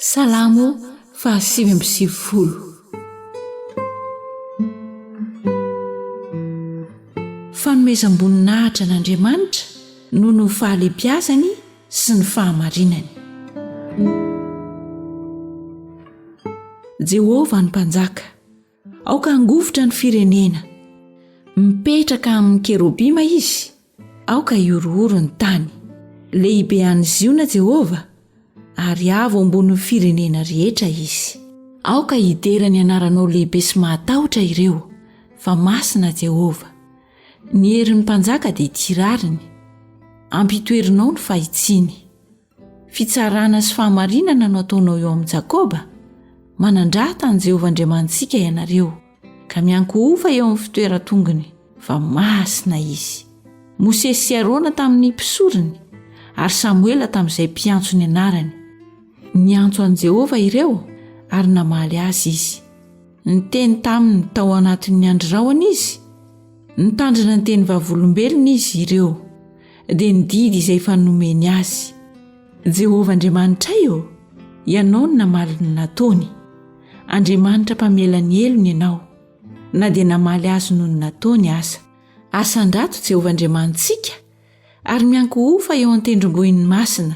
Salamo fahasivy amby sivifolo. Fanomezam-boninahitra an'Andriamanitra noho ny fahalebiazany sy ny fahamarinany. Jehovah no Mpanjaka. Aoka hangovitra ny firenena. Mipetraka amin'ny kerobima izy, aoka hihorohoro ny tany. Lehibe any Ziona Jehovah, ary avo ambonin'ny firenena rehetra izy. Aoka hidera ny anaranao lehibe sy mahatahotra ireo, fa masina Jehovah. Ny herin'ny mpanjaka dia ity rariny, ampitoerinao ny fahitsiany. Fitsarana sy fahamarinana no ataonao eo amin'i Jakoba? Manandrata an'i Jehovah Andriamanitsika ianareo, ka miankohofa eo amin'ny fitoeran-tongony, fa masina izy. Mosesy sy Arona tamin'ny mpisorony, ary Samoela tamin'izay mpiantso ny anarany. Niantso an'i Jehovah ireo, ary namaly azy izy. Niteny taminy tao anatin'ny andry rahona izy, nitandrina ny teny vavolombelony izy ireo. dia ny didy izay efa nomeny azy. Jehovah Andriamanitray ô, ianao no namaly ny nataony. Andriamanitra mpamela ny helony ianao, na dia namaly azy noho ny nataony aza. Asandrato Jehovah Andriamanitsika, ary miankohofa eo an-tendrombohiny masina.